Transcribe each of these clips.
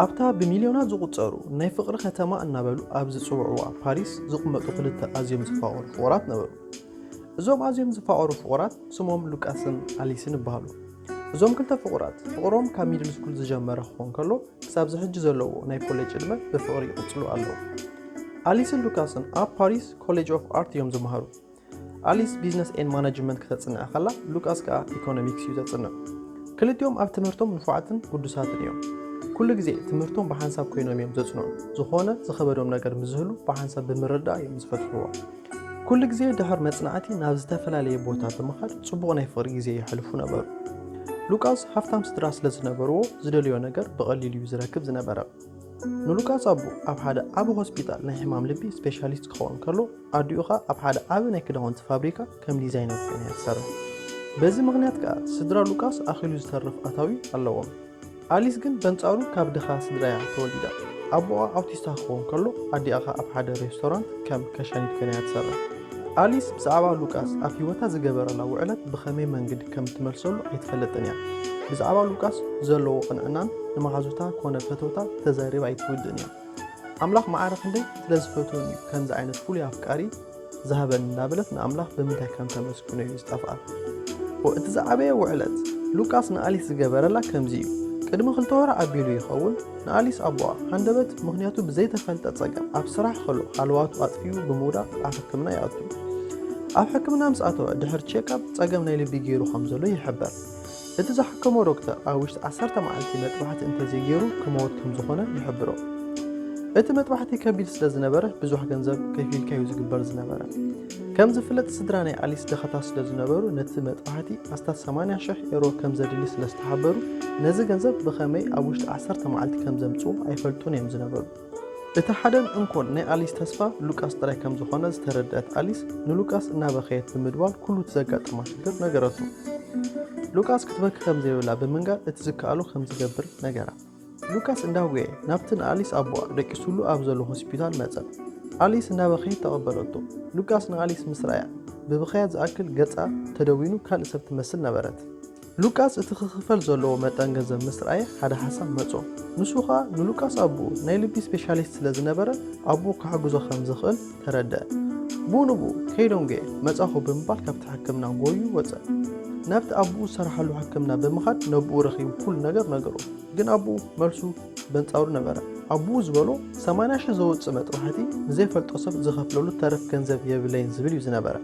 ኣብታ ብሚልዮናት ዝቑጸሩ ናይ ፍቕሪ ከተማ እናበሉ ኣብ ዝጽውዕዋ ፓሪስ ዝቕመጡ ክልተ ኣዝዮም ዝፋቐሩ ፍቑራት ነበሩ። እዞም ኣዝዮም ዝፋቐሩ ፍቑራት ስሞም ሉቃስን ኣሊስን ይበሃሉ። እዞም ክልተ ፍቑራት ፍቕሮም ካብ ሚድል ስኩል ዝጀመረ ክኾን ከሎ ክሳብ ዝሕጂ ዘለዎ ናይ ኮሌጅ ዕድመ ብፍቕሪ ይቕፅሉ ኣለዉ ኣሊስን ሉካስን ኣብ ፓሪስ ኮሌጅ ኦፍ ኣርት እዮም ዝመሃሩ ኣሊስ ቢዝነስ ኤን ማናጅመንት ክተፅንዐ ከላ ሉቃስ ከዓ ኢኮኖሚክስ እዩ ዘፅንዕ ክልቲኦም ኣብ ትምህርቶም ንፉዓትን ጉዱሳትን እዮም ኩሉ ግዜ ትምህርቶም ብሓንሳብ ኮይኖም እዮም ዘፅንዑ ዝኾነ ዝኸበዶም ነገር ምዝህሉ ብሓንሳብ ብምርዳእ እዮም ዝፈትሕዎ ኩሉ ግዜ ድሕሪ መጽናዕቲ ናብ ዝተፈላለየ ቦታ ብምኻድ ጽቡቕ ናይ ፍቕሪ ግዜ የሕልፉ ነበሩ። ሉቃስ ሃፍታም ስድራ ስለ ዝነበርዎ ዝደልዮ ነገር ብቐሊሉ እዩ ዝረክብ ዝነበረ። ንሉቃስ ኣቦ ኣብ ሓደ ዓቢ ሆስፒታል ናይ ሕማም ልቢ ስፔሻሊስት ክኸውን ከሎ ኣዲኡ ኸኣ ኣብ ሓደ ዓቢ ናይ ክዳውንቲ ፋብሪካ ከም ዲዛይነር ኮይና እያ ትሰርሕ። በዚ ምኽንያት ከኣ ስድራ ሉቃስ ኣኺሉ ዝተርፍ ኣታዊ ኣለዎም። ኣሊስ ግን በንጻሩ ካብ ድኻ ስድራ'ያ ተወሊዳ። ኣቦኣ ኣውቲስታ ክኸውን ከሎ ኣዲኣ ከኣ ኣብ ሓደ ሬስቶራንት ከም ከሻኒት ኮይና'ያ ትሰርሕ። ኣሊስ ብዛዕባ ሉቃስ ኣብ ህይወታ ዝገበረላ ውዕለት ብኸመይ መንግዲ ከም እትመልሰሉ ኣይትፈልጥን'ያ። ብዛዕባ ሉቃስ ዘለዎ ቅንዕናን ንመሓዙታ ኮነ ፈተውታ ተዛሪባ ኣይትውድእን'ያ። ኣምላኽ ማዕረ ክንደይ ስለ ዝፈትወኒ'ዩ ከምዚ ዓይነት ፍሉይ ኣፍቃሪ ዝሃበኒ እናበለት ንኣምላኽ ብምንታይ ከም ተመስግኖ እዩ ዝጠፍኣ። እቲ ዝዓበየ ውዕለት ሉቃስ ንኣሊስ ዝገበረላ ከምዚ እዩ። ቅድሚ ክልተ ወር ኣቢሉ ይኸውን ንኣሊስ ኣቦኣ ሃንደበት ምኽንያቱ ብዘይተፈልጠ ጸገም ኣብ ስራሕ ከሎ ሃለዋቱ ኣጥፊኡ ብምውዳቕ ኣብ ሕክምና ይኣቱ። ኣብ ሕክምና ምስ ኣተወ ድሕሪ ቼክኣፕ ጸገም ናይ ልቢ ገይሩ ከም ዘሎ ይሕበር። እቲ ዝሓከሞ ዶክተር ኣብ ውሽጢ ዓሰርተ መዓልቲ መጥባሕቲ እንተዘይገይሩ ክመወት ከም ዝኾነ ይሕብሮ። እቲ መጥባሕቲ ከቢድ ስለ ዝነበረ ብዙሕ ገንዘብ ከፊልካ እዩ ዝግበር ዝነበረ። ከም ዝፍለጥ ስድራ ናይ ኣሊስ ድኻታት ስለ ዝነበሩ ነቲ መጥባሕቲ ኣስታት 80 ሽሕ ኤሮ ከም ዘድሊ ስለ ዝተሓበሩ ነዚ ገንዘብ ብኸመይ ኣብ ውሽጢ ዓሰርተ መዓልቲ ከም ዘምጽኡ ኣይፈልጡን እዮም ዝነበሩ። እቲ ሓደን እንኮን ናይ ኣሊስ ተስፋ ሉቃስ ጥራይ ከም ዝኾነ ዝተረድኣት ኣሊስ ንሉቃስ እናበኸየት ብምድዋል ኩሉ እቲ ዘጋጠማ ሽግር ነገረቶ። ሉቃስ ክትበኪ ከም ዘይብላ ብምንጋር እቲ ዝከኣሎ ከም ዝገብር ነገራ። ሉቃስ እንዳጎየ ናብቲ ንኣሊስ ኣቦኣ ደቂሱሉ ኣብ ዘሎ ሆስፒታል መጸ። ኣሊስ እናበኸየት ተቐበለቶ። ሉቃስ ንኣሊስ ምስ ረኣያ ብብኸያ ዝኣክል ገጻ ተደዊኑ ካልእ ሰብ ትመስል ነበረት። ሉቃስ እቲ ክኽፈል ዘለዎ መጠን ገንዘብ ምስ ረኣየ ሓደ ሓሳብ መጾ። ንሱ ኸኣ ንሉቃስ ኣቦኡ ናይ ልቢ ስፔሻሊስት ስለ ዝነበረ ኣቦኡ ክሕግዞ ከም ዝኽእል ተረድኣ። ብኡ ንብኡ ከይዶንገየ መጻኹ ብምባል ካብቲ ሕክምና ጎዩ ወጸ። ናብቲ ኣቦኡ ዝሰርሓሉ ሕክምና ብምኻድ ነብኡ ረኺቡ ኩሉ ነገር ነገሮ። ግን ኣቦኡ መልሱ በንጻሩ ነበረ። ኣቦኡ ዝበሎ ሰማንያ ሽሕ ዘውጽእ መጥባሕቲ ንዘይፈልጦ ሰብ ዝኸፍለሉ ተረፍ ገንዘብ የብለይን ዝብል እዩ ዝነበረ።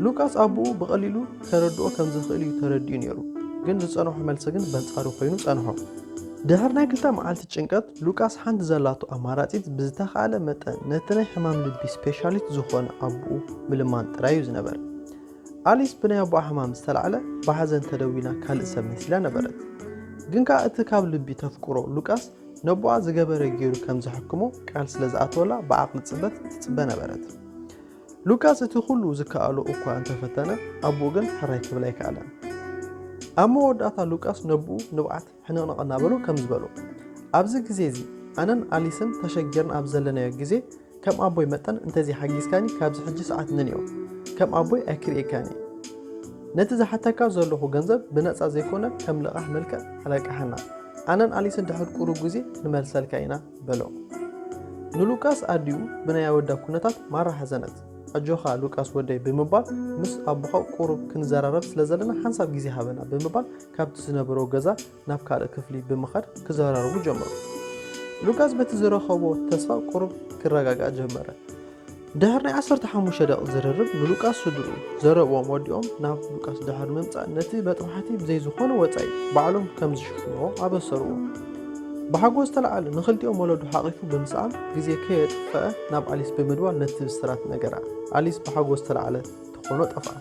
ሉቃስ ኣቦኡ ብቐሊሉ ከረድኦ ከም ዝኽእል እዩ ተረዲኡ ነይሩ፣ ግን ዝጸንሖ መልሲ ግን በንጻሩ ኮይኑ ጸንሖ። ድሕሪ ናይ ክልተ መዓልቲ ጭንቀት፣ ሉቃስ ሓንቲ ዘላቶ ኣማራጺት ብዝተኻእለ መጠን ነቲ ናይ ሕማም ልቢ ስፔሻሊስት ዝኾነ ኣቡኡ ምልማን ጥራይ እዩ ዝነበረ። ኣሊስ ብናይ ኣቡኣ ሕማም ዝተላዕለ ብሓዘን ተደዊና ካልእ ሰብ መሲላ ነበረት። ግን ከኣ እቲ ካብ ልቢ ተፍቅሮ ሉቃስ ነቡኣ ዝገበረ ገይሩ ከም ዘሕክሞ ቃል ስለ ዝኣተወላ ብዓቕሊ ጽበት ትጽበ ነበረት። ሉቃስ እቲ ዅሉ ዚከኣሎ እኳ እንተ ፈተነ፣ ኣቦኡ ግን ሕራይ ኪብል ኣይከኣለን። ኣብ መወዳእታ ሉቃስ ነቦኡ ንብዓት ሕንቕንቕ እናበሎ ከምዚ በሎ፣ ኣብዚ ግዜ እዚ፣ ኣነን ኣሊስን ተሸጊርና ኣብ ዘለናዮ ግዜ፣ ከም ኣቦይ መጠን እንተ ዘይሓጊዝካኒ ካብዚ ሕጂ ሰዓት ንንዮ ከም ኣቦይ ኣይክርእየካን እየ። ነቲ ዝሓተካ ዘሎኹ ገንዘብ ብነጻ ዘይኰነ ከም ልቓሕ መልክዕ ኣለቃሕና። ኣነን ኣሊስን ድሕሪ ቁሩብ ግዜ ክንመልሰልካ ኢና። በሎ። ንሉቃስ ኣዲኡ ብናይ ኣወዳ ኩነታት ማራ ሓዘነት። ኣጆኻ ሉቃስ ወደይ ብምባል ምስ ኣቦኻ ቁሩብ ክንዘራረብ ስለ ዘለና ሓንሳብ ግዜ ሃበና ብምባል ካብቲ ዝነበሮ ገዛ ናብ ካልእ ክፍሊ ብምኻድ ክዘራረቡ ጀመሩ። ሉቃስ በቲ ዝረኸቦ ተስፋ ቁሩብ ክረጋጋእ ጀመረ። ድሕሪ ናይ ዓሰርተ ሓሙሽተ ደቒቕ ዝርርብ ንሉቃስ ስድርኡ ዘረብኦም ወዲኦም ናብ ሉቃስ ድሕሪ ምምጻእ ነቲ መጥባሕቲ ብዘይ ዝኾነ ወጻኢ ባዕሎም ከም ዝሽፍንዎ ኣበሰርዎ። ብሓጎስ ዝተላዕለ ንኽልቲኦም ወለዱ ሓቒፉ ብምስኣም ግዜ ከየጥፈኣ ናብ ኣሊስ ብምድዋል ነቲ ብስራት ነገራ። ኣሊስ ብሓጎስ ዝተላዕለ ተኾኖ ጠፍኣ።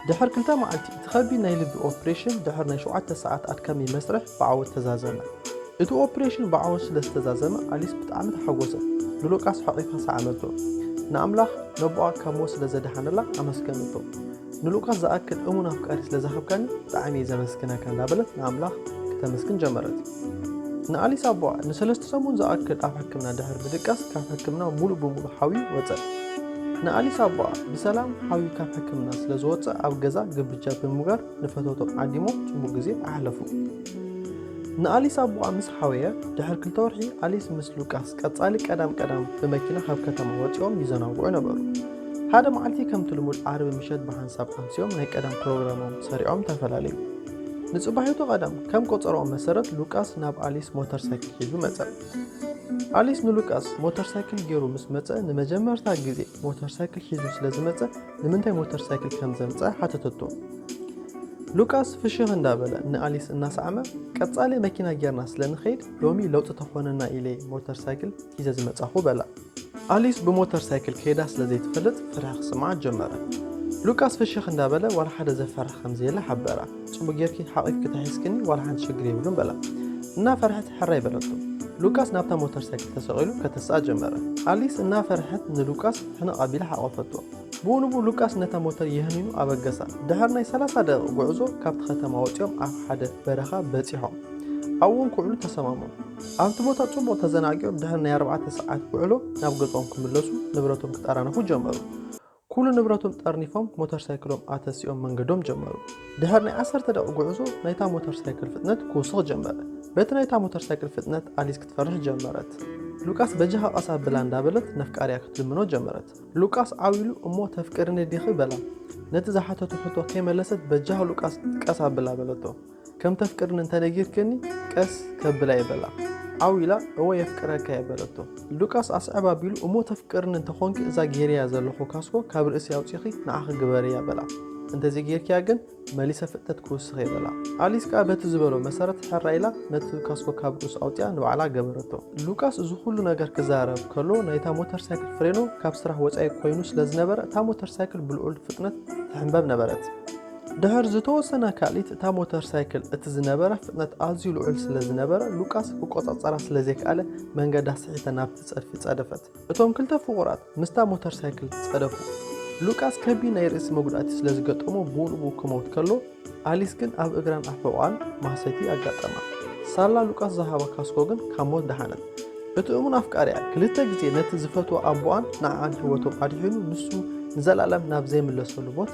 ድሕር ክልተ መዓልቲ፣ እቲ ከቢድ ናይ ልቢ ኦፕሬሽን ድሕር ናይ ሸውዓተ ሰዓት ኣድካሚ መስርሕ ብዓወት ተዛዘመ። እቲ ኦፕሬሽን ብዓወት ስለ ዝተዛዘመ ኣሊስ ብጣዕሚ ተሓጎሰት። ንሉቃስ ሓቚፋ ሰዓመቶ። ንኣምላኽ ነቦኣ ካብ ሞት ስለ ዘድሓነላ ኣመስገነቶ። ንሉቃስ ዝኣክል እሙን ኣፍቃሪ ስለ ዝሃብካኒ ብጣዕሚ እየ ዘመስግነካ እንዳበለት ንኣምላኽ ክተመስግን ጀመረት። ንኣሊስ ኣቦኣ ንሰለስተ ሰሙን ዝኣክል ኣብ ሕክምና ድሕሪ ምድቃስ ካብ ሕክምና ሙሉእ ብሙሉእ ሓውዩ ወፀ። ንኣሊስ ኣቦኣ ብሰላም ሓውዩ ካብ ሕክምና ስለ ዝወፀ ኣብ ገዛ ግብጃ ብምግባር ንፈተውቶም ዓዲሞም ፅቡቅ ግዜ ኣሕለፉ። ንኣሊስ ኣቦኣ ምስ ሓወየ ድሕሪ ክልተ ወርሒ ኣሊስ ምስ ሉቃስ ቀጻሊ ቀዳም ቀዳም ብመኪና ካብ ከተማ ወፂኦም ይዘናግዑ ነበሩ ሓደ መዓልቲ ከምቲ ልሙድ ዓርቢ ምሸት ብሓንሳብ ኣምሲኦም ናይ ቀደም ፕሮግራሞም ሰሪዖም ተፈላለዩ ንጽባሒቱ ቐዳም፣ ከም ቈጸራኦም መሰረት ሉቃስ ናብ ኣሊስ ሞተር ሳይክል ሒዙ መጸ። ኣሊስ ንሉቃስ ሞተር ሳይክል ገይሩ ምስ መጸ ንመጀመርታ ግዜ ሞተር ሳይክል ሒዙ ስለ ዝመጸ ንምንታይ ሞተር ሳይክል ከም ዘምጽኣ ሓተተቶ። ሉቃስ ፍሽኽ እንዳበለ ንኣሊስ እናሰዓመ ቀጻሊ መኪና ጌርና ስለ ንኸይድ ሎሚ ለውጢ ተኾነና ኢለ ሞተር ሳይክል ሒዘ ዝመጻኹ በላ። ኣሊስ ብሞተር ሳይክል ከይዳ ስለ ዘይትፈልጥ ፍርሒ ክስምዓ ጀመረ። ሉቃስ ፍሽኽ እንዳበለ ዋላ ሓደ ዘፈርሕ ከም ዘየለ ሓበራ። ጽቡቕ ጌርኪ ሓቒፍኪ ተሒዝክኒ ዋላ ሓንቲ ሽግር የብሉን በላ። እናፈርሐት ሕራይ በለቶ። ሉቃስ ናብታ ሞተር ሳይክል ተሰቒሉ ከተስኣ ጀመረ። ኣሊስ እናፈርሐት ንሉቃስ ሕንቕ ኣቢላ ሓቖፈቶ። ብኡ ንብኡ ሉቃስ ነታ ሞተር የህኒኑ ኣበገሳ። ድሕሪ ናይ ሰላሳ ደቒቕ ጉዕዞ ካብቲ ከተማ ወጺኦም ኣብ ሓደ በረኻ በጺሖም። ኣብኡ'ውን ክውዕሉ ተሰማምዑ። ኣብቲ ቦታ ጽቡቕ ተዘናጊዮም ድሕሪ ናይ ኣርባዕተ ሰዓት ውዕሎ ናብ ገዝኦም ክምለሱ ንብረቶም ክጠራነፉ ጀመሩ። ኩሉ ንብረቶም ጠርኒፎም ሞተር ሳይክሎም ኣተሲኦም መንገዶም ጀመሩ። ድሕሪ ናይ ዓሰርተ ደቒቕ ጉዕዞ ናይታ ሞተር ሳይክል ፍጥነት ክውስኽ ጀመረ። በቲ ናይታ ሞተር ሳይክል ፍጥነት ኣሊስ ክትፈርሕ ጀመረት። ሉቃስ በጃኻ ቀስ ኣብላ እንዳበለት ነፍቃሪኣ ክትልምኖ ጀመረት። ሉቃስ ዓው ኢሉ እሞ ተፍቅርኒ ዲኺ በላ። ነቲ ዝሓተቶ ሕቶ ከይመለሰት በጃኻ ሉቃስ ቀስ ኣብላ በለቶ። ከም ተፍቅርኒ እንተ ነጊርክኒ ቀስ ከብላ'የ በላ። ዓው ኢላ እወ የፍቅረካ'የ በለቶ። ሉቃስ ኣስዕብ ኣቢሉ እሞ ተፍቅርኒ እንተ ኾንኪ እዛ ጌረያ ዘለኹ ካስኮ ካብ ርእሲ ኣውጺኺ ንዓኺ ግበርያ በላ። እንተ ዘይጌርክያ ግን መሊሰ ፍጥነት ክውስኽ'የ በላ። ኣሊስ ከኣ በቲ ዝበሎ መሰረት ሕራይ ኢላ ነቲ ካስኮ ካብ ርእሱ ኣውጺኣ ንባዕላ ገበረቶ። ሉቃስ እዚ ኩሉ ነገር ክዛረብ ከሎ ናይታ ሞተር ሳይክል ፍሬኖ ካብ ስራሕ ወጻኢ ኮይኑ ስለ ዝነበረ እታ ሞተር ሳይክል ብልዑል ፍጥነት ትሕምበብ ነበረት። ድሕር ዝተወሰነ ካልኢት እታ ሞተር ሳይክል እቲ ዝነበረ ፍጥነት ኣዝዩ ልዑል ስለ ዝነበረ ሉቃስ ክቆጻጸራ ስለ ዘይከኣለ መንገዳ ስሒተ ናብቲ ጸድፊ ጸደፈት። እቶም ክልተ ፍቑራት ምስታ ሞተር ሳይክል ጸደፉ። ሉቃስ ከቢድ ናይ ርእሲ መጉዳእቲ ስለ ዝገጠሞ ብኡንብኡ ክመውት ከሎ፣ ኣሊስ ግን ኣብ እግራን ኣብ ሕቖኣን ማህሰይቲ ኣጋጠማ። ሳላ ሉቃስ ዝሃባ ካስኮ ግን ካብ ሞት ደሓነት። እቲ እሙን ኣፍቃሪኣ ክልተ ግዜ ነቲ ዝፈትዎ ኣቦኣን ንዓኣን ህይወቶም ኣድሒኑ ንሱ ንዘለኣለም ናብ ዘይምለሰሉ ሞት